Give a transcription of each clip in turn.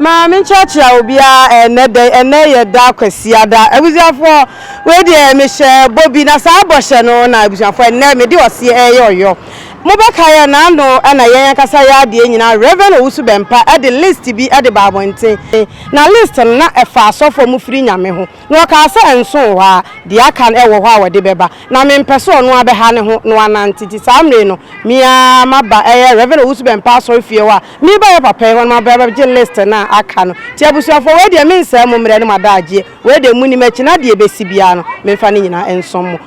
maa menkyerɛkyerɛ obiara ɛnɛ dɛ ɛnɛ yɛ da kwasiada abusuafoɔ wei deɛ mehyɛ bɔ bi na saa bɔhyɛ no na abusuafoɔ ɛnɛ mede ɔseɛ ɛyɛ ɔyɔ Mobɛkae a n'ano na yɛn ankasa yɛ adeɛ nyinaa Rev Owusu-Bempah de list bi de baa abɔnten, na list no na ɛfa asɔfo a wɔfiri Nyame ho, na ɔkaa sɛ nson wɔ ha, deɛ aka no wɔ hɔ a wɔde bɛba, na mempɛ sɛ ɔno ara bɛha ne ho na wanante, nti saa mmerɛ yi no me ara maba ɛyɛ Rev Owusu-Bempah asɔrefie hɔ a mereba yɛ papa yi hɔ no maba abɛgye list no a aka no, nti abusuafoɔ wei deɛ mensɛe mo mmerɛ ne mo adagyeɛ, wei deɛ monim akyi no adeɛ ɛbɛsi biara no memfa ne nyinaa nsom mo.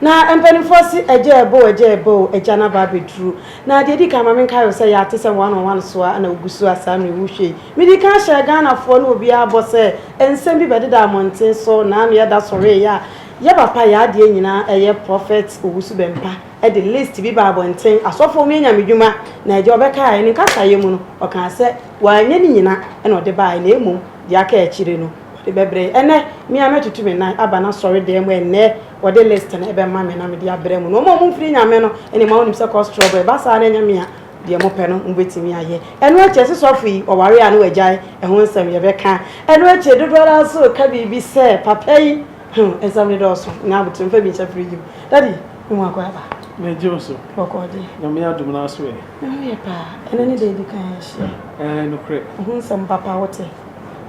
Na mpanimfoɔ se, Agya ɛbɔ o, agya ɛbɔ o, agya no aba abɛduru. Na deɛ ɛdi kan, ma menkae wo sɛ yɛate sɛ one on one so ara na wogu so a saa mmerɛ yi wohwɛ yi. Medi kan hyɛɛ Ghanafoɔ ne obiara bɔ sɛ nsɛm bi bɛdeda mmɔnten so na ano yɛda sɔreeɛ a, yɛ papa, yɛ adeɛ nyinaa ɛyɛ Prophet Owusu-Bempah de list bi baa abɔnten, asɔfoɔ monyɛ Nyame dwuma. Na agya ɔbɛkaeɛ no nkasaeɛ mu no, ɔkaa sɛ wanyɛ ne nyina na ɔde baeɛ na mmom deɛ aka akyire no. de bɛbrɛ yi. Ɛnɛ, me ara mɛtutu me nan aba n'asɔredan mu ɛnnɛ, wɔde list no bɛma me na mede abrɛ mo. Na wɔn a wɔmfiri Nyame no, ɛne ma wonim sɛ kɔ store brɛ. Ɛba saa na ɛnyɛ me a, deɛ mopɛ no mobɛtumi ayɛ. Ɛno akyi, ɛse sɔfo yi, ɔware a na wagyae, ɛho nsɛm yɛbɛka. Ɛno akyi, dodoɔ ara nso reka biribi sɛ, papa yi, hmm, nsɛm no dɔɔso, nya abotire, mfa bi nhyɛ fridge mu. Daddy, me ho akɔ aba. Megye wo so. Bɔkɔɔ deɛ. Nyame adom no aso ɛ? Me ho yɛ paa. Ɛnɛ ne da a ɛdi kan a yɛahyia. Ɛɛ, nokorɛ. Ɛho nsɛm papa, wote?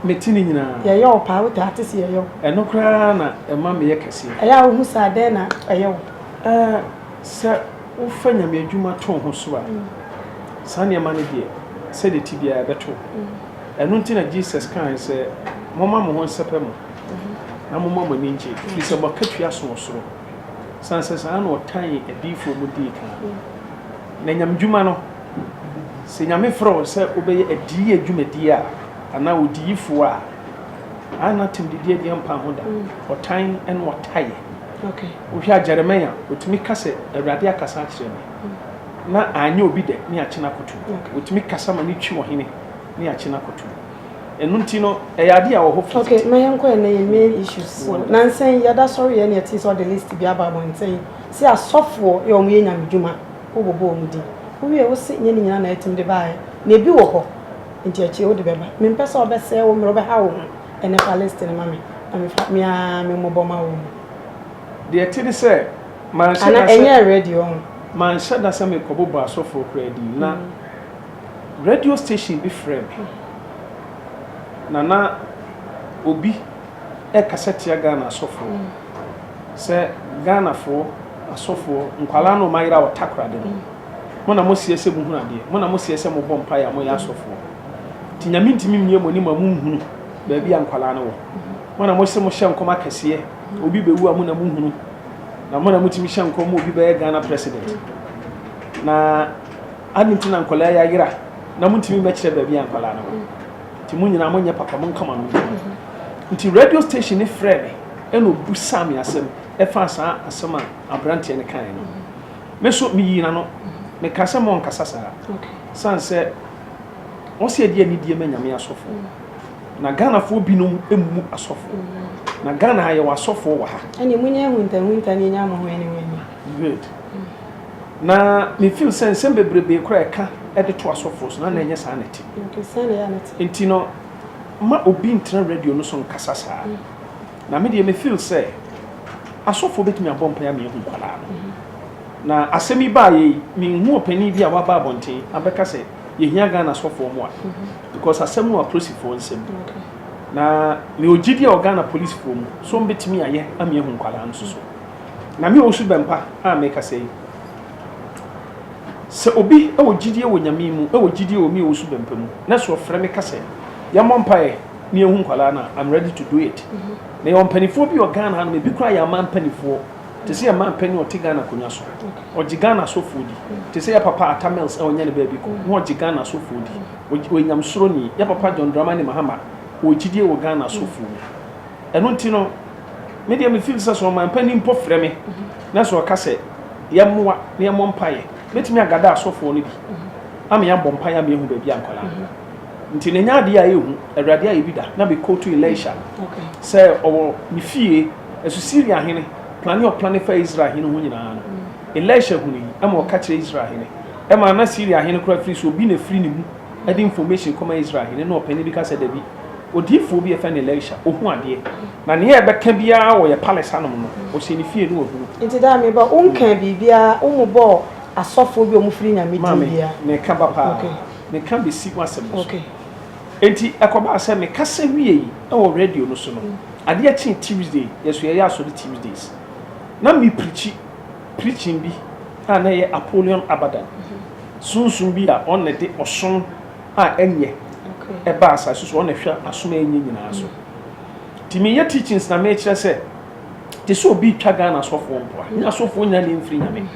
me ti no nyinaa. Yɛyɛ wo paa, wotaa te se yɛyɛ wo. Ɛno koraa na ɛma meyɛ kɛseɛ. Ɛyɛ a wohu saa, dɛn na ɛyɛ wo? Ɛɛ, sɛ wofa Nyame adwuma to wo ho so a, saa nneɛma no deɛ, sɛdeɛ ɛte biara ɛbɛto wo. Ɛno nti na Jesus kaae sɛ, Momma mo ho nsɛpɛ mo, na momma mo ani nnye, firi sɛ mo akatua so wɔ soro, sane sɛ saa ara na wɔtanee adiyifoɔ mu dii kan. Na Nyamedwuma no. Sɛ Nyame frɛ wo sɛ wobɛyɛ adiyi adwumadie a, anaa odiyifoɔ a, a na atemdidie deɛ mpa ho da, ɔtan ne ɔtaeɛ. Wohwɛ a Jeremia, ɔtumi ka sɛ, Awurade akasa akyerɛ me, na anyɛ obi dɛ, ne akye no akoto mu. Ɔtumi kasa ma no twi ɔhene, ne akye no akoto mu. Ɛno nti no, ɛyɛ adeɛ a wɔ hɔ fititi. Okay, ma yɛnkɔ yɛn na yɛn main issues. So, nansa yi, yɛda sɔre yɛ na yɛtee sɛ ɔde list bi aba abɔnten sɛ asɔfoɔ yɛ wɔn yɛ nyamedwuma. Wo bobɔ wɔn din. Wo wie wo se nyɛ ne nyinaa na yɛtim de baeɛ na ebi wɔ hɔ nti akyire wode bɛba. Me mpɛ sɛ wo bɛsɛɛ wo mmerɛ wo bɛha wo ho ɛnɛ fa list no ma me na me fa me aa me mmobɔ ma wo mu. Deɛ ɛte ne sɛ manhyɛ da sɛ. Ana ɛnyɛɛ ready wɔ ho. Manhyɛ da sɛ me kɔ bobɔ asɔfoɔ koraa din na radio station bi frɛ me na na obi ɛkasa tia Ghana asɔfoɔ sɛ Ghanafoɔ. Asɔfoɔ, nkwadaa no ɔmayera wɔ takoradi no, mo na moseɛ sɛ mohunu adeɛ, mo na moseɛ sɛ mobɔ mpaeɛ a moyɛ asɔfoɔ, nti Nyame ntumi mmue mo anim a monhunu baabi a nkwadaa no wɔ, mo na mose mohyɛ nkɔm akɛseɛ, obi bɛwu a mo na mohunu, na mo na motumi hyɛ nkɔm ma obi bɛyɛ Ghana President, na adɛn nti na nkwadaa yi ayera na montumi mmɛkyerɛ baabi a nkwadaa no wɔ, nti mo nyinaa monyɛ papa, monka mo ano ntom. Nti radio station no frɛɛ me ɛna ɔbisaa me asɛm, ɛfaa saa asɛm a aberanteɛ no kaeɛ no me so meyii n'ano mekaa sɛ monkasa saa sane sɛ wɔsɛ yɛde anidie ma nyame asɔfo na ghanafoɔ binom mmu asɔfo na ghana ha yɛwɔ asɔfo wɔ ha ɛne monyɛ ahuntahunta ne ɛnya mo ho ɛne ho ɛnya good na mefeel sɛ nsɛm bebrebe koraa ɛka ɛde to asɔfo so na na ɛnyɛ saa na ɛte nti no ma obi ntena radio no so nkasa saa mm. Na me deɛ me feel sɛ asɔfoɔ bɛtumi abɔ mpaeɛ ama yɛahu nkwadaa no. Na asɛm yi baeɛ yi, menhu ɔpanin bi a waba abɔnten abɛka sɛ yɛhia Ghana asɔfoɔ mmoa because asɛm no wɔ apolisifoɔ nsam. Na me wɔ gyidie a wɔ Ghana polisifoɔ mu sɛ wɔbɛtumi ayɛ ama yɛahu nkwadaa no soso. Na me Owusu Bɛmpa a mekasa yi, sɛ obi wɔ gyidie wɔ Nyame mu, wɔ gyidie wɔ me Owusu Bɛmpa mu na sɛ ɔfrɛ me ka sɛ yɛmmɔ mpaeɛ, ne ehu nkwadaa na i'm ready to do it na yɛwɔ mpanimfoɔ bi wɔ ghana hanom ebi kora yɛ ama mpanimfoɔ te sɛ yɛ mma mpanyin ɔte ghana akonnwa so ɔgye ghana asɔfoɔ di te sɛ yɛ papa ata mills a ɔnyɛ ne baabi kɔ na ɔgye ghana asɔfoɔ di ɔyɛ nyamsoro ni yɛ papa john dramani mahama ɔgyidie wɔ ghana asɔfoɔ mu ɛno nti no me deɛ me feel sɛ sɛ ɔman panyin mpo frɛ me na sɛ ɔka sɛ yɛmmoa na yɛmmɔ mpaeɛ mɛtumi agada asɔfoɔ no bi ama yɛabɔ mpaeɛ ama yɛhu baabi a nkwadaa Nti na ɛnyɛ adeɛ a ɛyɛ hu, Awurade ayɛ bi da, na me quote Elisha sɛ ɔwɔ ne fie, ɛso Syria hene plane a ɔplane faa Israel hene ho nyinaa no, Elisha hunu yi ɛma ɔka kyerɛ Israel hene, ɛma na Syria hene koraa firi sɛ obi na ɛfiri ne mu ɛde information kɔma Israel hene, na ɔpanin bi ka sɛ dabi, odiyifoɔ bi a ɛfɛ no Elisha, ɔhu adeɛ, na nea ɛbɛka biara wɔ yɛ palace hanom no, ɔhyɛ ne fie na wahunu. Nti daa me ba, wo nkaa biribiara, wo mmobɔɔ asɔfoɔ bi a wɔfiri Nyame din biara. Maame, meka ba paa, me ka besi w'asɛm no so. Enti ɛkɔbaa sɛ me kasa wiei wɔ radio no so no, adeɛ kyee Tuesday, yɛn nso yɛyɛ asɔre Tuesdays, na me preachi preaching bi a na ɛyɛ Apollyon Abadan, sunsum bi a ɔno na ɛde ɔsom a ɛnyɛ ɛbaa asase so, ɔno na ɛhwɛ asom a ɛnyɛ nyinaa so. Nti meyɛ teachings na mekyerɛ sɛ, te sɛ obi retwa Ghana asɔfoɔ mpoa, nyɛ asɔfoɔ nyinaa na ɛmfiri Nyame.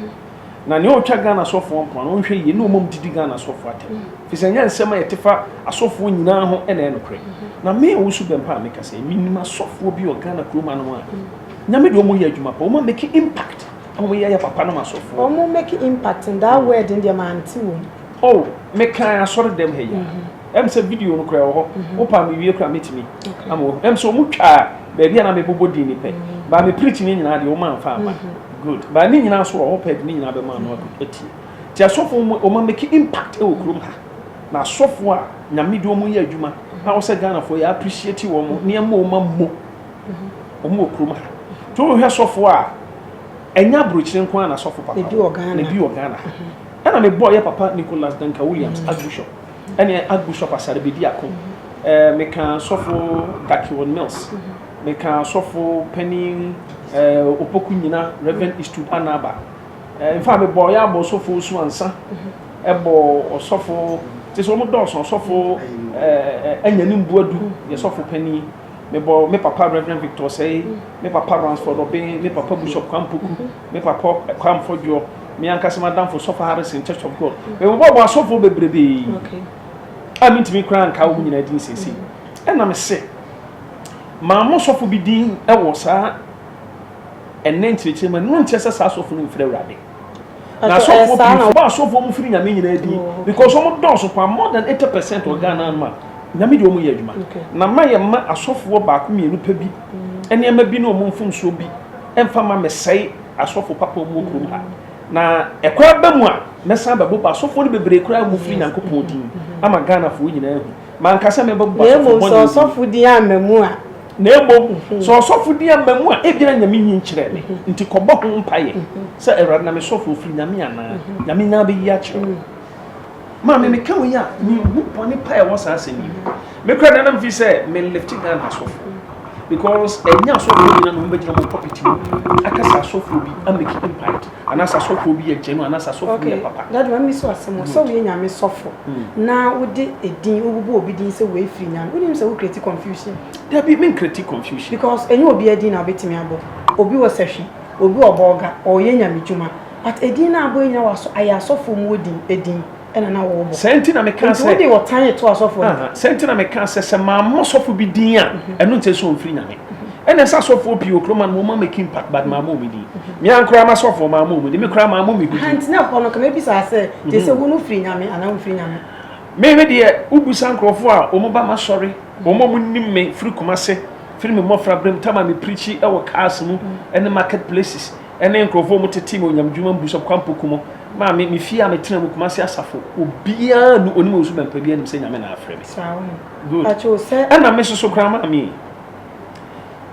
na nea ɔretwa ghana asɔfoɔ mpoa no ɔnhwɛ yie ne ɔma mu didi ghana asɔfoɔ atɛm mm-hmm. firi sɛ nyɛ nsɛm a yɛte fa asɔfoɔ nyinaa ho ɛna ɛyɛ nokorɛ mm-hmm. na me a wosu bɛn paa meka sɛ menim asɔfoɔ bi wɔ ghana kurom anom a mm-hmm. nyame deɛ ɔmɔyɛ adwuma pa ɔma make impact ɔmo yɛ yɛ papa nom asɔfoɔ ɔmo make impact ndaa word deɛ mante wɔ mu oh mekan asɔre dɛm ha yi a ɛm sɛ video no kora ɛwɔ hɔ mhm. wopa mewie kora mɛtumi ama wahu ɛm sɛ ɔmu twaa baabi a na mebobɔ din ne pɛ mhm. baa me preach ne nyinaa deɛ woma mfa ama mhm. good baa ne nyinaa so wɔ hɔ pɛ de ne nyinaa bɛma no atie nti asɔfo mu ɔma make impact ɛwɔ kurom ha na asɔfo a nyame de ɔmu yɛ adwuma na wo sɛ ghanafoɔ yɛ appreciate wɔ mo nneɛma ɔma mmɔ ɔmu wɔ kurom ha nti wohwɛ sɔfo a ɛnyɛ aburokyire nko ara na sɔfo papa na bi wɔ ghana ɛna mebɔɔ yɛ papa nicholas duncan williams archbishop ɛne Archbishop Asare-Bedi ako, eh, meka sɔfo Gakiwon Mills, meka sɔfo panin eh, Opoku nyina, Reverend Eastwood Anaba. Eh, mfa mebɔ yɛ abɔ sɔfo Osu Ansa, ɛbɔ ɔsɔfo, te sɛ wɔn dɔɔso, ɔsɔfo eh, Anyani Mbuadu, yɛ sɔfo panin. Mebɔ me papa Reverend Victor Osei, me papa Ransford Obeng, me papa Bishop Kwampoku. Me papa Kwame Fodjour, me ankasa m'adamfo Sɔfo Harrison Church of God, mebobɔbɔ asɔfoɔ bebrebe a mentumi koraa nkaa wɔn nyinaa din seesei. Ɛna me se, maa mo sɔfo bi din wɔ saa ɛnɛ nkyerɛkyerɛ mu, ɛno nkyerɛ sɛ saa asɔfo no mfiri Awurade. Na asɔfoɔ pii fo bɔ asɔfoɔ mu firi nyame nyinaa din because wɔn dɔɔso paa more than 80% wɔ Ghana no ma nyame deɛ wɔn yɛ adwuma. Na ma yɛ ma asɔfoɔ baako mmienu pɛ bi nneɛma bi ne wɔn mfomsoɔ bi mfa ma mesɛe asɔfo papa mu wɔ kurom ha na ɛkɔ aba mu a mɛsan bɛbɔ ba asɔfoɔ no bebree koraa mu firi nyankopɔn din ama ghanafoɔ nyinaa ahu manka sɛ mɛbɛbɔ ba asɔfo bɔne sɛ ɔsɔfo din ama mu a na mmom sɛ ɔsɔfo din ama mu a ebia nyame nyi nkyerɛ me nti kɔbɔ ho mpaeɛ sɛ awurade na mesɔfo ofiri nyame anaa nyame nyinaa bɛyi akyerɛ Maame meka wei a mehu bɔne pa ɛwɔ saa asɛm yi me kora nana mfi sɛ me lifte Ghana asɔfo because ɛnyɛ asɔfo nyina na wɔbɛgyina mu pɔpiti mu aka sɛ asɔfo bi amake impact anaasɛ asɔfo bi yɛ gyɛnu anaasɛ asɔfo bi yɛ papa. Dade mami so asɛm o sɛ woyɛ nyame sɔfo hmm. na wode edin wobubu obi din sɛ wei firi nyame wonim sɛ wo create confusion. Dabi me create confusion. Because ɛnyɛ obi adin na wobɛtumi abɔ obi wɔ sɛhwi obi wɔ bɔɔga ɔyɛ nyame dwuma. But edin no a abɔ yi nyina wɔ ayɛ asɔfoɔ mu odin edin ɛna na wɔ bɔ. Saa nti na me kaa sɛ. Nti wo de ɔtan eto asɔfoɔ no. Saa nti na me kaa sɛ sɛ maa mo sɔfo bi din a ɛno nkyɛ sɛ ɔnfiri nyame. Ɛna ɛsɛ asɔfoɔ pii wɔ kuro ma no mo ma make impact but maa mo ɔmo din. Me ankoraa ma sɔfoɔ maa mo ɔmo din me koraa maa mo me ho din. Nti na ɛhɔ no nka mɛ bisaa sɛ gye sɛ wo no firi nyame anaa wo nfiri nyame. Me me deɛ wo busa nkorɔfoɔ a ɔmo ba ma sɔre ɔmo a ɔmo nim me firi kumase firi me mmɔfra berɛ mu time a me preachi ɛwɔ cars mu ɛne market places. ne nkurɔfoɔ a wɔtete me onyamedwuma mu Bishop Kwampo Kumo, maame, me fie a metena mu, Kumasi Asafo, obiara nnu onim ɔsu bɛmpa bi anim sɛ Nyame na afrɛ me. Saa wɔ. Good. Ɛna me soso koraa maame yi.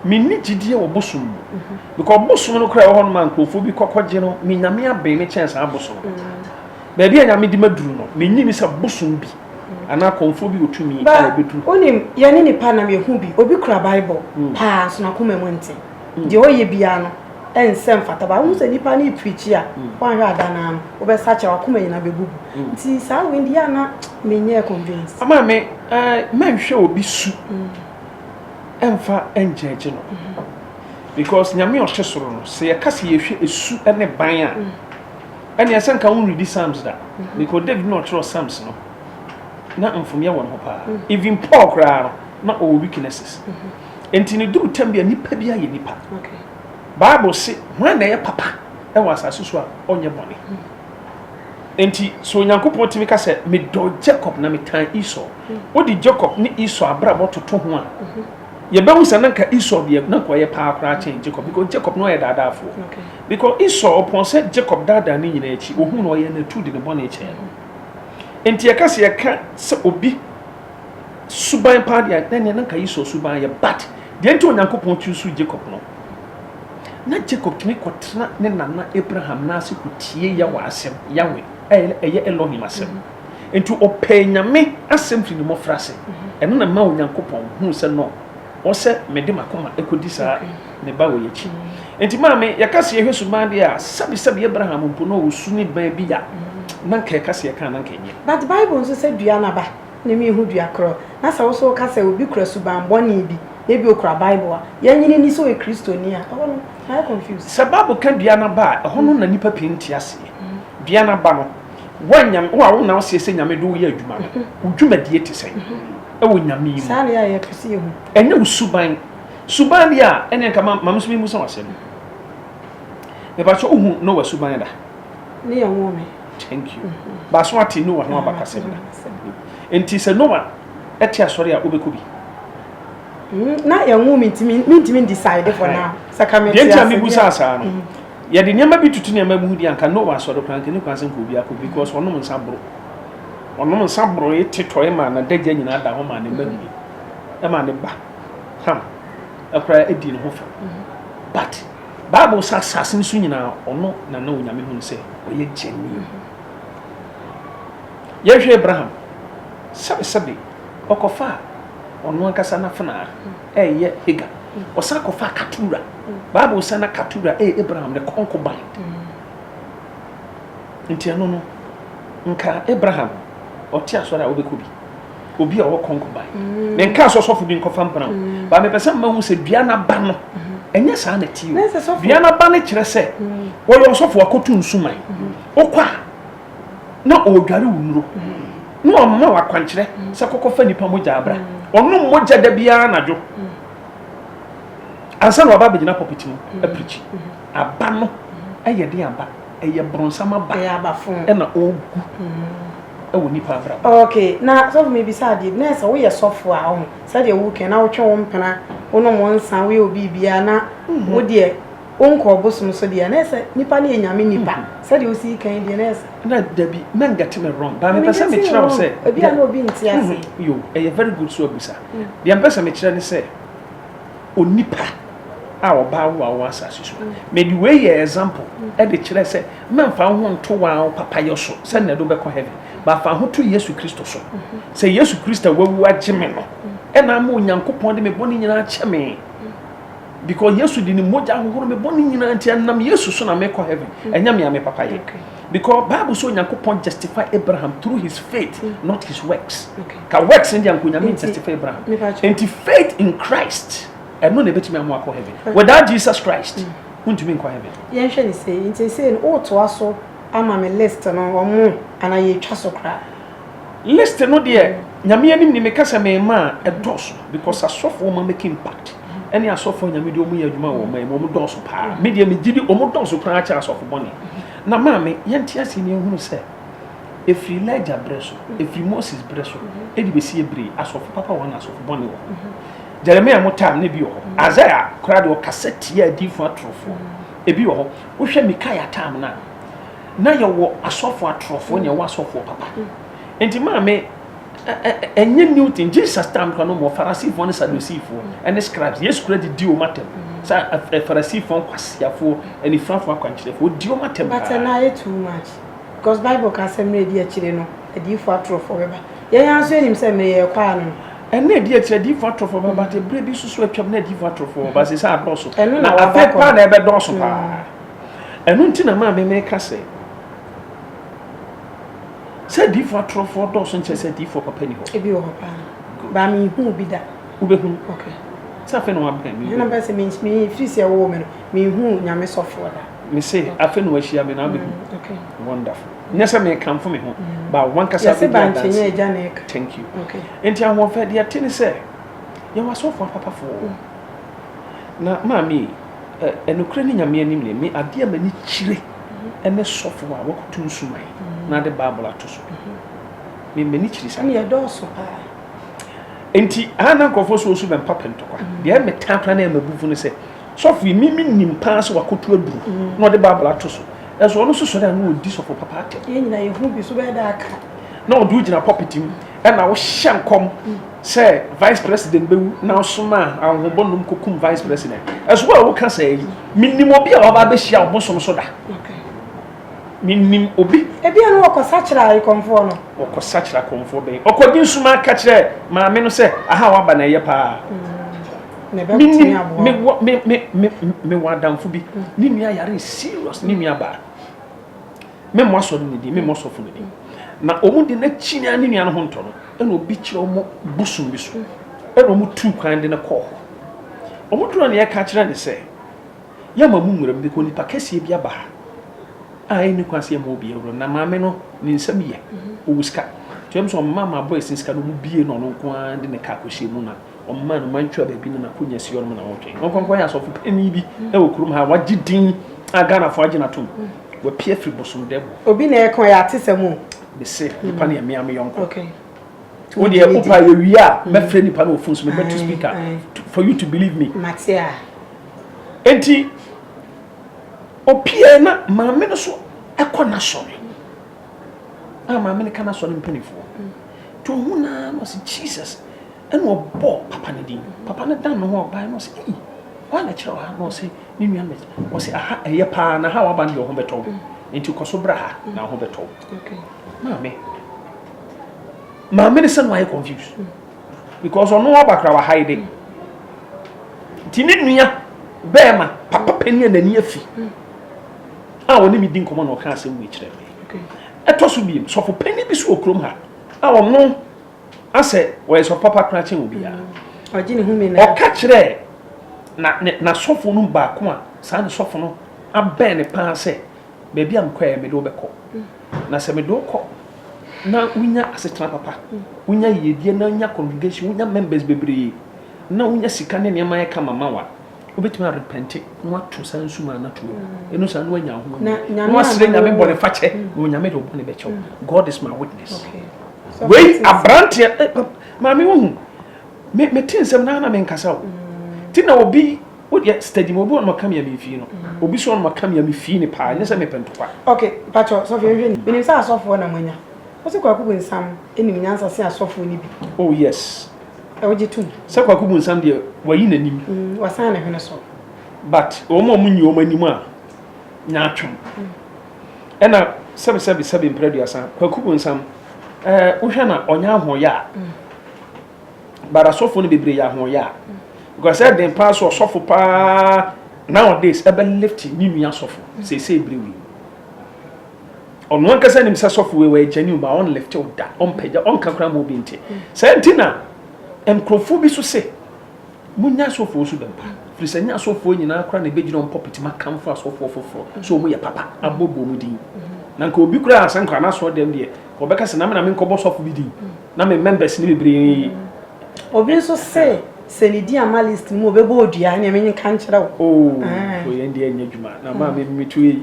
Menni gyidie wɔ bosom mu. Because bosom no koraa ɛwɔ hɔ nom a nkurɔfoɔ bi kɔkɔgye no, me Nyame abɛn me kyɛn saa bosom no. Baabi a Nyame de maduru no, menni ni sɛ bosom bi anaa kɔmfoɔ bi wɔ tumi a ɛbɛduru. Wonim, yɛne nipa nam yɛhu bi, obi kura Bible paa nso n'akoma mu nte. deɛ ɔyɛ biara no ɛnsɛ mfata ba wohu sɛ nipa no preachi a mm. woanhwɛ ada no ano wobɛsakyɛ wakoma nyina bɛbubu mm. nti saa wei deɛ ana menyɛ convince ama me eh, mɛnhwɛ obi su mm. ɛmfa ɛngyɛgye no mm-hmm. because nyame ɔhyɛ soro no sɛ yɛka sɛ yɛhwɛ ɛsu ne ban a ɛne ɛsɛ nka woredi psalms da mm-hmm. because david na ɔkyerɛ psalms no na mfomyɛ wɔ ne ho paa even paul koraa no na ɔwɔ weaknesses mm-hmm. Enti no duru tɛm bi a nipa biara yɛ nipa. Bible se hwan na ɛyɛ papa wɔ asase so a ɔnyɛ bɔne. Enti so Onyankopɔn tumi ka sɛ medɔ Jacob na metan Esau. Wode Jacob ne Esau abrabɔ toto ho a, yɛbɛhu sɛ na nka Esau deɛ na nka ɔyɛ paa koraa kyɛn Jacob because Jacob na ɔyɛ daadaafoɔ. Because Esau ɔpɔn sɛ Jacob daadaa ne nyinaa akyi, ɔhu no ɔyɛ n'atu de ne bɔne kyɛɛ no. Enti yɛka sɛ yɛka sɛ obi suban paa deɛ na neɛ na nka Esau suban yɛ but deɛ nti Onyankopɔn choose Jacob no na Jacob tumi kɔtena ne nana Abraham n'ase kɔtie Yahweh asɛm Yahweh ɛyɛ Elohim asɛm nti ɔpɛɛ Nyame asɛm firi ne mmɔfra ase ɛno na ma Onyankopɔn huu sɛ no Wɔ sɛ mede m'akoma kɔdi saa ne ba wei akyi. Enti maame, yɛka sɛ yɛhwɛ suban deɛ a, sɛbesɛbe Abraham mpo na ɔwɔ su ne ban bi a, na anka yɛka sɛ yɛka a, na anka ɛnyɛ. But Bible nso sɛ dua n'aba na emu yɛ hu dua korɔ. Na sɛ wo nso woka sɛ obi kura suban bɔne bi, na ebia ɔkura Bible a, yɛnnye no nni sɛ ɔyɛ Kristoni a, ɛhɔ no mayɛ confused. Sɛ Bible ka dua n'aba a, ɛhɔ no na nnipa pii nte aseɛ. Dua n'aba no, wo a Nyame, wo a wona wo seɛ sɛ Nyame de wo yɛ adwuma no, wo dwumadie te sɛn? wɔ Nyame mu. Saa na yɛ a yɛpɛ sɛ yɛhu. Ɛnyɛ wo suban. Suban deɛ a, ɛneɛ nka ma me nso me mmusa w'asɛm. Mepakyɛ wohu Noah suban da? Ne yɛ nwoo me. Thank you. Baaso ate Noah ho abakasɛm da. Nti sɛ Noah ɛte asɔre a, wobɛkɔ bi? Mm, na yɛ nwoo me nti me ntimi decide for now. Sɛ ka me te ase. Deɛ nti a me busa asaa no. Mm. Yɛde nneɛma bi tutu nneɛma mu di anka Noah asɔre koraa nka ne kwan sɛ nka obi akɔ because wɔnom nsa boro. Ɔnom nsa borooe te tɔe maa n'adagya nyinaa da hɔ maa ne mma dii. Ɛma ne ba Ham koraa dii ne ho fɛw. But Bible sɛ asase no so nyinaa ɔno na na Onyame hu no sɛ ɔyɛ gyani. Yɛhwɛ Abraham, sɛbesɛbe ɔkɔfaa ɔno ankasa n'afenaa ɛyɛ Hagar. Ɔsan kɔfaa Katura. Bible sɛ na Katura ɛyɛ Abraham ne kɔnkoban. Nti ɛno no Nka Abraham, ɔte asɔre a wobɛkɔ bi, obi a ɔwɔ kɔnkɔban, ne nka sɛ ɔsɔfo bi nkɔfa mbra o. Ba mepɛ sɛ mma hu sɛ dua n'aba no, ɛnyɛ saa na ɛte o. Dua n'aba no kyerɛ sɛ ɔyɛ ɔsɔfo akɔtu nsuman. Wokɔ a, na ɔredware wo nnuro, na ɔma wo akwankyerɛ sɛ kɔkɔfa nnipa mogya abra. Ɔnom mogya da biara anadwo ansa na waba abɛgyina pulpit mu apirikyi. Aba no yɛ den aba. ɛyɛ bronsam aba ɛyɛ aba fun ɛna ɔgu ɛwɔ nipa abrabɔ. okay na sɔfo mi bisa adeɛ bi na ɛsɛ woyɛ sɔfo a ɔho sɛdeɛ wokɛ na wotwe wo mpena wonom wo nsa woyɛ obi bia na wo deɛ wonkɔ ɔbosom so deɛ na ɛsɛ nipa ne yɛ nyame nipa sɛdeɛ wosi kan deɛ na ɛsɛ. na dabi na ngɛte me wrong ba mepɛ sɛ mekyerɛ wo sɛ ebi a na obi nti ase yo ɛyɛ very good so abusa deɛ mpɛ sɛ mekyerɛ ne sɛ. onipa a ɔbaa wo a ɔwɔ asase so. Na de wei yɛ example de kyerɛ sɛ na mfa wo ho nto wɔn papayɔ so sɛ na ɛde wobɛkɔ heaven. Ba fa ho to Yesu Kristo so. Sɛ Yesu Kristo a wawu agye me no ɛna ama Onyankopɔn de me bɔne nyinaa akyɛ me. Because Yesu de ne mogya ahohoro me bɔne nyinaa nti ɛnam Yesu so na mekɔ heaven. Ɛnyɛ me a me papayɛ. Because Bible sɛ Onyankopɔn justify Abraham through his faith not his works. Okay. Ka works no deɛ anka onyame ntestify bra ho. Enti faith in Christ ɛno na ɛbɛtumi ama wakɔ heaven. Without Jesus Christ wontumi nkɔ heaven. Yɛnhwɛ no sei, nti seesei no wotoa so ama me list no ɔmo anaa yɛtwa so koraa? List no deɛ Nyame anim ni meka sɛ mema a ɛdɔɔso because asɔfoɔ ɔma make impact ɛne asɔfoɔ a Nyame de ɔmo yɛ adwuma wɔ ɔman mu ɔmo dɔɔso paa. Me deɛ megye di ɔmo dɔɔso koraa kyɛn asɔfo bɔne. Na maame yɛnte aseɛ na yɛnhunu sɛ. Ɛfiri Elijah berɛ so, ɛfiri Moses berɛ so, ɛde bɛsi yɛ berɛ yi, asɔfo papa wɔ hɔ na asɔfo bɔne wɔ hɔ. Jeremiah mo time no ebi wɔ hɔ. Isaiah koraa deɛ ɔkasa tia adiifo atorofoɔ. Ebi wɔ hɔ. Wohwɛ Mikaia time no a, na yɛwɔ asɔfo atorofoɔ na ɛwɔ asɔfoɔ papa. Nti maame, ɛnyɛ new thing. Jesus time koraa no mmɔ Farisifoɔ ne Sadusifoɔ ne scribes. Yesu koraa de di wɔn atam. Sɛ Farisifoɔ nkwasiafoɔ, anifurafoɔ akwankyerɛfoɔ, ɔdi wɔn atam paa. But na ayɛ too much. Because bible ka sɛ mmerɛ ɛdi akyire no adiyifoɔ atorofoɔ bɛba. Yɛn ara nso yɛnim sɛ mmerɛ yɛrekɔ ara no no. Ɛnna ɛdi akyire adiyifoɔ atorofoɔ bɛba but ɛberɛ bi nso so atwam na adiyifoɔ atorofoɔ wɔ but seesei adɔɔso na afei paa na ɛbɛdɔɔso paa. Ɛno nti na maa me meka sɛ sɛ adiyifoɔ atorofoɔ dɔɔso nkyɛ sɛ adiyifoɔ papa ni hɔ. Ebi wɔ hɔ paa baa me nhu bi da. Wobɛhunu. Okay. Sɛ afei na wabɛn me. Ɛna bɛsɛ me firi sɛ ɛwɔ me no me nhu nyame sɔfoɔ da. Me se afe na wahyia me na abɛ hu wonderful nyɛ sɛ me kanfo me ho ba wankasa bɛ di adanse thank you nti ahoɔfɛ deɛ te ne sɛ yɛwɔ asɔfo apapafoɔ na maame ɛnokorɛ ne nyame anim ne me adeɛ ma ni kyire ɛne sɔfo a wakutu nsuman na ade bible ato so me mani kyiri sa ne ɛdɔɔso paa nti ana nkurɔfoɔ so osu bɛ mpapɛ ntɔkwa deɛ me taa kora na ɛma bufo ne sɛ Sɔfo yi, me minim paa sɛ wakotu aduru na ɔde Bible ato so. Nanso ɔno nso sɔre a na ɔdi sɔfo papa atɛm. Yɛn nyinaa yehu bi, so wobɛyɛ dɛ aka? Na ɔde wo gyina pulpit mu na wohyɛ nkɔm sɛ vice president bɛwu na wosomaa ahohobɔnom kɔkum vice president. Nanso wo a woka saa yi, menim obi a waba abɛhyia ɔbosom so da. Menim obi. Ebia na wɔkɔsakyera ayekɔmfoɔ no. Wɔkɔsakyera akɔmfoɔ bɛn? Ɔkɔgye nsumaa ka kyerɛɛ maame no sɛ, Aha a woaba no, ɛyɛ paa. Menim mewɔ adamfo bi ne nua yare serious ne nua baa memmɔ asɔre ne din memmɔ sɔfo ne din na wɔn de n'akyi ne ne nua no ho ntɔ no ɛna obi kyerɛ wɔn bosom bi so ɛna wɔn tu kwan de no kɔɔ hɔ wɔn duro ne ɛka kyerɛ ne sɛ yɛ ma mu nwura mu bi kɔ nipa kɛseɛ bi aba ha a ɛni kwan sɛ yɛ ma obi awura na maame no ne nsɛm yɛ owuska kyerɛ mu sɛ ɔmma ma abɔ ɛsin sika no mu bie na ɔno nko ara de ne kaa kɔhyɛ mu na Ɔmaa no mantwa baabi na n'akonnwa si hɔnom na wɔtwɛn no. Ɔnkɔnkɔn yɛ asɔfo panyin bi wɔ kurom ha a wagye din a Ghanafoɔ agye no atom. Wapia firi bosomdɛm mu. Obi na ɛka ɔyɛ atesɛm o. Mese nipa no yɛ mmea me yɔnko. Wo deɛ wopa a yɛwie a mɛfrɛ nipa no wɔ fon so mebɛto speaker for you to believe me. Mate a. Enti opiae na maame no so kɔ n'asɔre. a maame no ka no asɔre mpanimfoɔ to ho no ara na ɔse Jesus ɛna ɔbɔ papa no din papa no dan ne ho a ɔbaeɛ na ɔse ei ɔa na ɛkyerɛ wɔ ha na ɔse ne nua no ɔse aha ɛyɛ paa na ha waba no deɛ ɔho bɛtɔ wo nti kɔ so bra ha na ɔho bɛtɔ wo maame maame no sɛ no ayɛ confused because ɔno aba kora wɔ ha yi de nti ne nua bɛɛma papa panin a n'ani afi a ɔne me di nkɔmmɔ na ɔka asɛm wei kyerɛ me. Ɛtɔ so biem, sɔfo panyin bi so wɔ kurom ha a ɔno asɛ ɔyɛ sɔfo papa koraa kyɛn obiara. Mm, ɔka kyerɛ na ne na sɔfo no baako a saa ne sɔfo no abɛn ne paa sɛ baabi a mekɔ yɛ mede wobɛkɔ mm. na sɛ mede wokɔ na wonya asetena papa mm. wonya yiedie na wonya congregation wonya members bebree na wonya sika ne nneɛma yɛ kama ma wa Obetumi arepɛnte na watu saa nsu ma anatu no. Ɛno saa na wanya ahoma mu. Na wasrɛ Nyame bɔne fakyɛ na Onyame de ɔbɔne bɛkyɛw. Mm. God is my witness. Wei aberanteɛ eh, eh, maame wohu me me te nsɛm na na me nkasa o. Mm. Ti na obi wodeɛ steady ma obi ɔnoma kamea me fie no mm. obi so ɔnoma kamea me fie ne paa nyɛ sɛ mepɛ ntɔkwa okay patro sɔfo nhwɛ ni menim sɛ asɔfoɔ na moanya wo sɛ kwaku bonsam ɛnim nyansa se asɔfoɔ no bi oh yes Wogye tom. Sɛ Kwaku Bonsam deɛ wayi n'anim. Wasan ne hwene so. But wɔn a wɔnyi wɔn anim a nyaatwom. Ɛna sɛbi sɛbi sɛbi mprɛduasa Kwaku Bonsam ɛɛ wohwɛ na ɔnyɛ ahoɔyɛ a. But asɔfo no bebree yɛ ahoɔyɛ a. Because ɛden paa so ɔsɔfo paa nowadays ɛbɛ lift ne nua asɔfo seesei bere wei. Ɔno ankasa nim sɛ sɔfo wei wɔyɛ genuine ba ɔnlifte wo da ɔmpagya ɔnka koraa ma obi nte saa nti na nkurɔfoɔ bi so se monya asɔfoɔ so dɛm pa firi sɛ nyɛ asɔfoɔ nyinaa koraa na ɛbɛgyina wɔn pɔpiti ma kamfo asɔfoɔ foforɔ sɛ wɔn yɛ papa abɔbɔ mu din na nka obi koraa sɛ nkora n'aso dɛm deɛ wɔbɛka sɛ na me na menkɔbɔ sɔfo bi din na me members ne bebree obi nso se sɛ ne di ama list mu obɛbɔ odua ɛneɛ menka nkyerɛ wo oh, ah. yɛn deɛ ɛnyɛ adwuma na maa me metu yi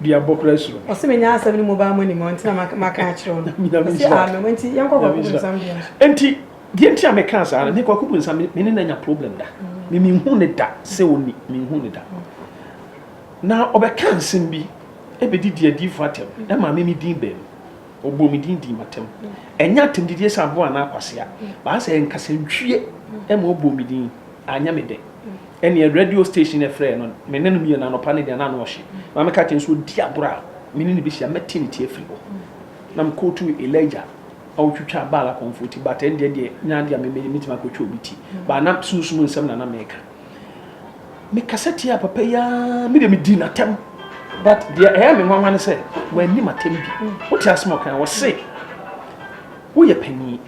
de abɔ kora suro no. Ɔse menya asɛm no mu baa mo anim a, ɔnti na maka akyerɛ wo no. Nyame Ɔse nhyira amen, enti yɛnkɔ Nyame Kwaku nhyira Bonsam dua so. Enti deɛ nti a mekaa saa no, me Kwaku Bonsam me me ne no anya problem da. Me menhuu no da sɛ ɔnni, menhuu no da. Na ɔbɛkaa nsɛm bi bɛdidi adiyifoɔ atɛm, ɛmaa me me din baa mu. Ɔbɔɔ me din dii m'atɛm. Ɛnyɛ atɛmdidiɛ sɛ aboa anaa kwasea, but asɛ ɛyɛ nkasantwie ɛma ɔbɔɔ me din, anyɛ me dɛ. Ɛnneɛ radio station no frɛɛ no, me ne no mmienu, anɔpa no deɛ na ano ɔhye. Na meka kyerɛ no sɛ ɔdi agorɔ a, me ne no bɛhyia, mɛte ne ti afiri hɔ. Na me quote Elijah a ɔtwitwaa Baal akɔmfoɔ ti, but ɛndeɛ deɛ nyɛ adeɛ a me mɛyɛ, mɛtumi akɔtwa obi ti. But na sunsum nsɛm na na meka. Me kasa tiaa papa yi ara, me deɛ me dii n'atɛm. But deɛ ɛyɛ me nwanwa ne sɛ, wanni m'atɛm bi. Wote asɛm a ɔkae, ɔse, woyɛ panin,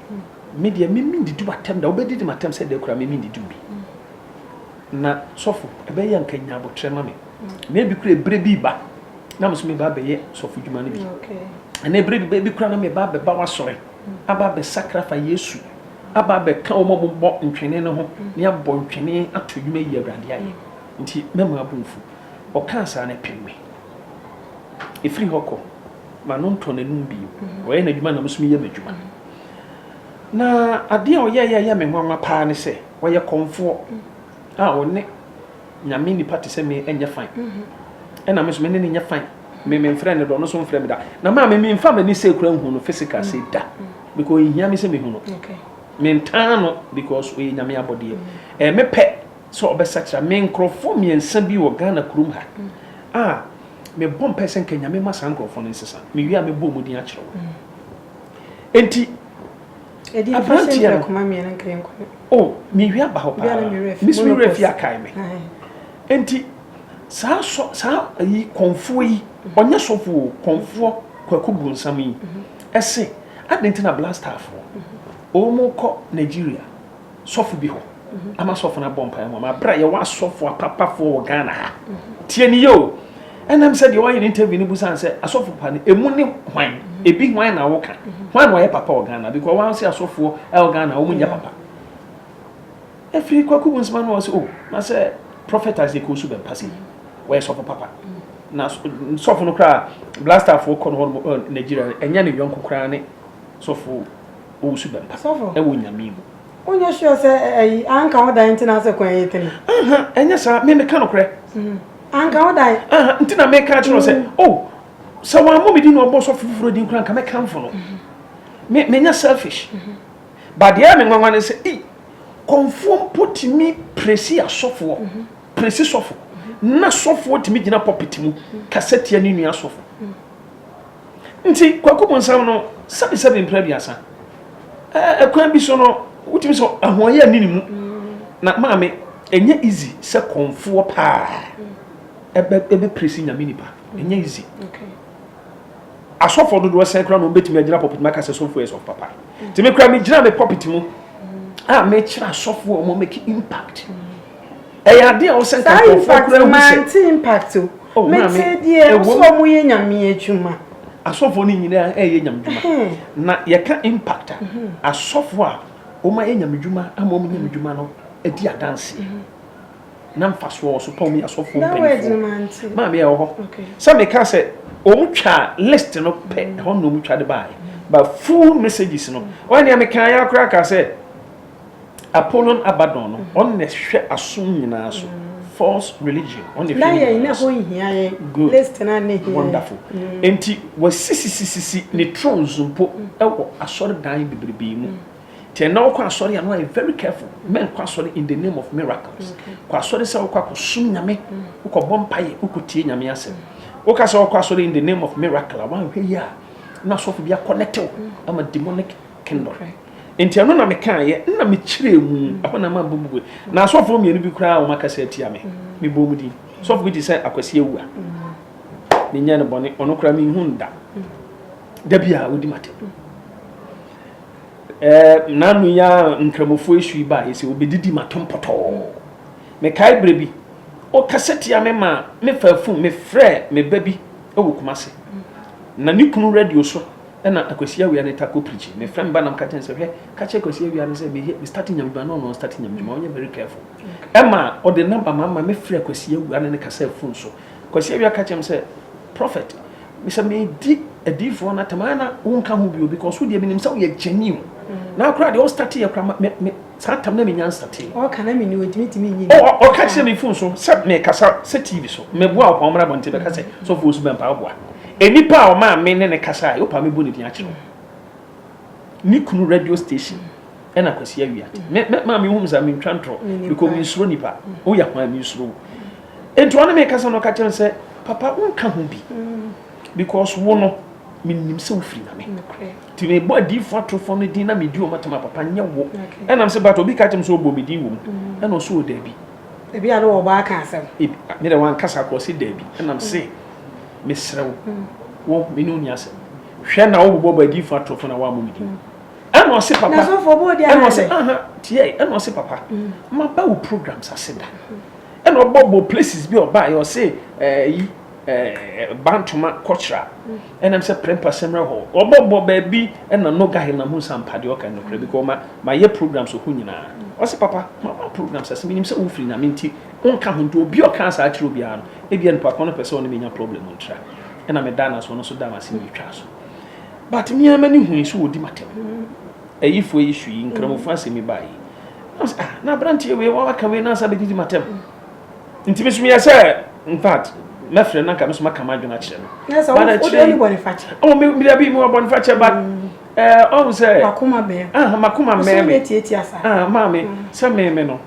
me deɛ me mendidi w'atɛm da, wobɛdidi m'atɛm sɛ dɛn koraa me mendidi wo bi. Na sɔfo, ɛbɛyɛ yɛ a anka nya abotrɛ ma me. Na ebi kura ebire bi ba, na me nso meba abɛyɛ sɔfo dwuma no bi. Ɛna ebire bi ba, ebi kura na meba abɛba w'asɔre, aba abɛsakra fa Yesu, aba abɛka wɔn a wɔbɔ ntwene no ho, ne abɔ ntwene ato adwuma yi Awurade ayɛ. Nti mɛma abo mfu. Ɔkaa saa no ɛpem me. Efiri hɔ kɔ, m'ano ntɔɔ n'anum bio. Ɔyɛ n'adwuma na me nso meyɛ m'adwuma. Na adeɛ a ɔyɛeɛ a ɛyɛ me nwanwa paa ne sɛ, Wɔyɛ kɔmfoɔ a wɔne Nyame nipa te sɛ me nyɛ fan. Ɛna me nso me ne no nyɛ fan. Me me mfrɛ no da, ɔno nso mfrɛ me da. Na maa me me mfa m'ani sɛ kura nhu no physical sɛ da. Because ehia me sɛ mehu no. Me ntaa no because ɔyɛ Nyame abɔdeɛ. Ɛɛ eh, me pɛ sɛ ɔbɛsakyera. Me nkorɔfoɔ mmiɛnsa bi wɔ Ghana kurom ha a me bɔ mpɛ sɛ nka Nyame ma saa nkorɔfoɔ no nsesa. Me wie a me bɔ ɔmo din akyerɛ wo. Enti. Aberanteɛ no, Oh, merewie aba hɔ paa. Mesi me werɛ fie akae me. Enti saa sɔ saa ayi kɔnfoɔ yi, ɔnyɛ sɔfo o, kɔnfoɔ Kwaku Bronsam yi, ɛse adɛn nti na Black Starfoɔ wɔkɔ Nigeria? sɔfo bi hɔ ama sɔfo no abɔ mpaeɛ ma ma berɛ a yɛwɔ asɔfo apapafoɔ wɔ ghana ha tie ne yɛ o ɛnam sɛ deɛ ɔayɛ no interview no busane sɛ asɔfo pa no ɛmu ne hwan ɛbi hwan na woka hwan na ɔyɛ papa wɔ ghana because wɔn sɛ asɔfoɔ ɛwɔ ghana wɔn nyɛ papa ɛfiri kwaku bu nsɛm ano wɔ sɛ o na sɛ prophet ase kɔ so bɛmpa sɛ wɔyɛ sɔfo papa na sɔfo no koraa blasterfoɔ kɔ no hɔ nigeria ɛnyɛ ne yɔnko koraa ne sɔfo Wo nso bɛba Ɔsɔfo. wɔ Nyame mu. Wonyɛ sure sɛ ɛ- ayi anka wo dan nti na asɛ kwan yi tene? Aha, ɛnyɛ saa, me meka nokorɛ. Anka wo dan. Aha, nti na meka akyerɛ wo sɛ, oh, sɛ wammɔ me din na ɔbɔ ɔsɔfo foforɔ din koraa nka mɛkamfo no. Me, menyɛ selfish. But deɛ ɛyɛ me nwanwa ne sɛ, ei, kɔmfoɔ mpo tumi presi asɔfoɔ, presi sɔfo, na sɔfoɔ tumi gyina pulpit mu kasa tia ne nua sɔfo. Nti Kwaku Bonsam no sɛbi sɛbi mpra aduasa. Ɛɛ kwan bi so no wotumi sɛ ahoɔyɛ nni ne mu. Na maame ɛnyɛ easy sɛ kɔmfoɔ paa ɛbɛ ɛbɛ presi nyame nipa. Ɛnyɛ easy. Asɔfoɔ dodoɔ sɛn koraa na wɔbɛtumi agyina pɔpiti mu aka sɛ sɔfoɔ yɛ sɔfo papa. Nti me koraa megyina me pɔpiti mu a mekyerɛ asɔfoɔ a wɔn make impact. Ɛyɛ ade a ɔsɛ nka nkurɔfoɔ kura hu sɛ. Saa impact maa impact o. Oh, me te deɛ nso wɔn yɛ nyame adwuma. Asɔfoɔ no nyinaa ɛyɛ nyame adwuma. Na yɛka impact a mhm. asɔfoɔ a wɔn ayɛ nyame adwuma ama wɔn nyame adwuma no adi adanse. Mhm. Na mfasoɔ wɔ so pa wɔn yɛ asɔfoɔ mpanimfoɔ. Maame yɛ wɔ hɔ. Sɛ meka sɛ wɔn twa list no pɛ mhm. ɛhɔ na wɔn twa de baa yɛ. But full messages no. Wɔn nea meka ya koraa ka sɛ. Apollyon Abaddon no ɔno na ɛhwɛ asom nyinaa so false religion ɔno na ɛhwɛ ne nyinaa so. Good wonderful nti wasisisisisi ne thrones mpo ɛwɔ asɔredan bebrebe mu nti ɛnna ɔkɔ asɔre a no ayɛ very careful mɛnkɔ asɔre in the name of miracles kɔ asɔre sɛ ɔkɔ akɔsom nyame wokɔ bɔ mpaeɛ wokɔ tie nyame asɛm woka sɛ ɔkɔ asɔre in the name of miracle a wanhwɛ yi a na asɔfo bi akɔ ne tew ama demonic kingdom. Enti ɛno na mekaeɛ, na mekyerɛɛ mu, ɛhɔ na mabɔ mu gue. Na asɔfoɔ mmienu bi koraa a wɔakasa atia me, mebɔɔ mu din. Sɔfo bi te sɛ Akwasi Awua. Menyɛ no bɔne, ɔno koraa menhu no da. Da bi a wɔdi m'atɛm. Nanu yi a Nkramofoɔ esu yi baeɛ sɛ wɔbɛdidi m'atɛm pɔtɔɔ. Mekae berɛ bi, ɔkasa tia me ma mefaa fon mefrɛɛ me ba bi wɔ Kumase. Na ne kunu radio so Ɛna Akwasi Awea no ta kɔ prikyi. Ne frɛ me ba na meka kyerɛ no sɛ hwɛ ka kyerɛ Akwasi Awea no sɛ me me start nya adwuma na ɔno ɔn start nya adwuma ma ɔnyɛ very careful. Ɛma ɔde number ma ma me frɛ Akwasi Awia ne no kasaa phone so. Akwasi Awia ka kyerɛ me sɛ Prophet sɛ me di adiifoɔ no atam a na wo nka ho bio because wo deɛ me nim sɛ wo yɛ gyani o. Na koraa deɛ wo start yɛ koraa me me. Saa tam na me nyansa te. Ɔka na me ni ɔntumi tumi nyi ni. O, ɔka kyerɛ me fon so sɛ mekasa sɛ TV so. Meboa ɔpɔn mmra abɔnten bɛka sɛ sɔfo osu bɛ mpae ɔboa. Enipa a ɔmaa me ne ne kasae, wopɛ a mebu ne din akyerɛ wo. Me kunu radio station ɛna Kwasi Awia. Me, me, maa me hu me saa me ntwa ntorɔ. Mekɔ me nsuro nipa. Woyɛ hwan me nsuro wo. Enti ɔne me kasa na ɔka kyerɛ me sɛ papa wonka ho bi. Because wo no, menim sɛ wofiri Nyame. Nti mebɔ adiifo atorofo no din na medi wɔn atam a papa nyɛ wo. Ɛna m sɛ but obi ka kyerɛ m sɛ ɔbɔ me din wɔ mu. Mm. Ɛna ɔsɛ ɔdaabi. Ebi a na wɔbɔ aka asɛm. Ebi me dɛ wankasa kɔ ɔsɛ daabi. Ɛna m sɛ mm. mesrɛ wo. Mm. Wo me ne ɔni asɛm. Hwɛ na wobobɔ bɔ adiifo atorofo na woammɔ me din. Ɛna ɔsɛ papa. Na sɔfo ɔbɔ odi ana. Ɛna ɔsɛ aha tiɛ ɛna ɔsɛ papa. Maba wo programs ase da. Ɛna ɔbɔ bɔ places bi ɔbaa yɛ ɔsɛ ɛyi. Bantoma kɔkyera ɛnam sɛ prɛmpa sɛmrɛ hɔ ɔbɔ bɔ baabi ɛna no gahe na mu nsa mpa deɛ ɔka no kura bi kɔ ma ma yɛ programs ɔho nyinaa ɔsɛ papa ma ma programs ase menim sɛ wo firi nyame nti wo nka ho nti obi ɔka saa kyerɛ obiara no ebia nipa kɔn no pɛ sɛ ɔne menya problem ntra ɛna me da na so ɔno so da na se me twa so but me ama ne hui so ɔdi matem ɛyi fo yi su yi nkramofo asɛmi ba yi na abranteɛ wei wawaka wei na asa bɛdidi matem Nti me so meyɛ sɛ infact mɛfrɛ no anka me so maka m'adwene akyerɛ no. Na sɛ wode ɔne bɔnefakyɛ. Ɔwɔ me mede abi mu wɔ bɔnefakyɛ ba. Ɔhu sɛ. Makoma bɛn. Ah makoma mɛn me. Ɔsɛ yɛ tietia saa. Ah maame sɛ me me no.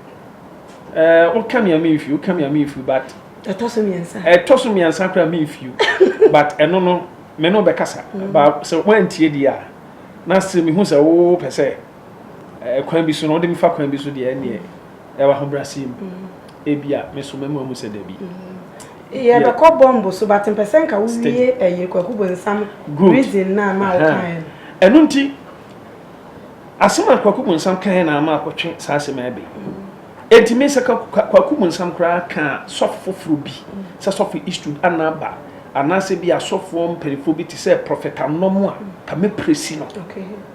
Woka me a me nfiw woka me a me nfiw but. Ɛtɔ so mmiɛnsa. Ɛtɔ so mmiɛnsa koraa me nfiw but ɛno no me no bɛkasa ba sɛ wantie di a na sɛ mehu sɛ wopɛ sɛ kwan bi so no wode me fa kwan bi so deɛ ɛneɛ. Ɛwɔ ahobrɛaseɛ mu. Ebia me so mɛma wahu sɛ dabi. Yɛbɛkɔ bɔmb so but mpɛ sɛ nka wo wie ɛyi Kwaku Bonsam reason no a ma wo kaeɛ no. Ɛno nti asɛm a Kwaku Bonsam kaeɛ na ama akɔtwe saa asɛm a ɛbɛ yi. Enti me sɛ Kwaku Bonsam koraa ka sɔfo foforɔ bi sɛ sɔfo Eastwood anaa ba anaasɛ bi asɔfoɔ mpaninfoɔ bi te sɛ Prɔfɛt Anom a ka mɛpresi no. Okay.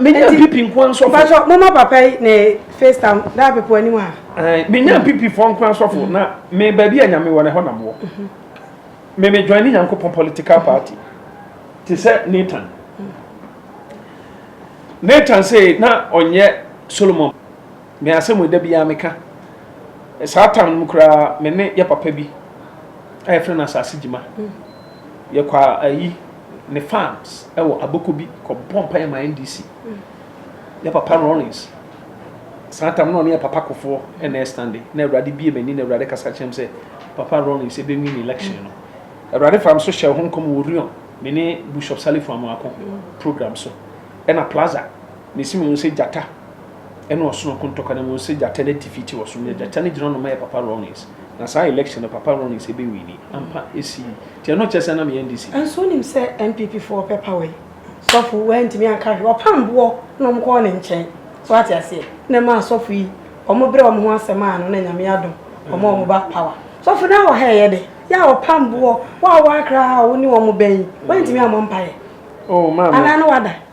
menya pipi nko ara nsɔfo. mpatsɔ mo ma papa yi ne face tam daa pepo anim a. menya pipi fɔ nko ara nsɔfo na me baabi a nyame wɔ no ɛhɔ na mo wɔ me me join ne nyankopɔn political party te sɛ Nathan Nathan sei na ɔnyɛ Solomon me asɛm ɛda biara meka saa tam no koraa me ne yɛ papa bi a yɛfrɛ no asase gyima. Yɛkɔ ayi ne farms ɛwɔ aboko bi kɔ bɔ mpaeɛ ma NDC yɛ papa Rawlings saa tam na ɔne yɛ papa kofoɔ ɛna ɛstande na awurade bie m'ani na awurade kasa kyerɛm sɛ papa Rawlings ebe win election no awurade fam so hyɛ ho nkɔm wɔ Rion me ne Bishop Salifu Amoako program so ɛna plaza Mese mo sɛ gyata ne ɔsono ko ntɔkwa na mo sɛ gyata no atifi te ɔsono na gyata no gyina ɔno ma yɛ papa Rawlings na saa election no papa Rawlings ɛbɛ winni ampa ɛsi yi nti ɛno kyerɛ sɛ na meyɛ NDC. Nso wonim sɛ NPP foɔ ɔpɛ power yi sɔfo wei antumi anka hwee ɔpam boɔ na ɔmo kɔɔ ne nkyɛn so ate aseɛ na ɛmaa asɔfo yi ɔmo brɛ ɔmo ho ase maa no na Nyame adom ɔmo a ɔmo ba power sɔfo na wɔ ha ɛyɛ dɛ yɛ a ɔpam boɔ wo a woakra a wo ne ɔmo bɛn yi woantumi ammɔ mpaeɛ anaa na wada.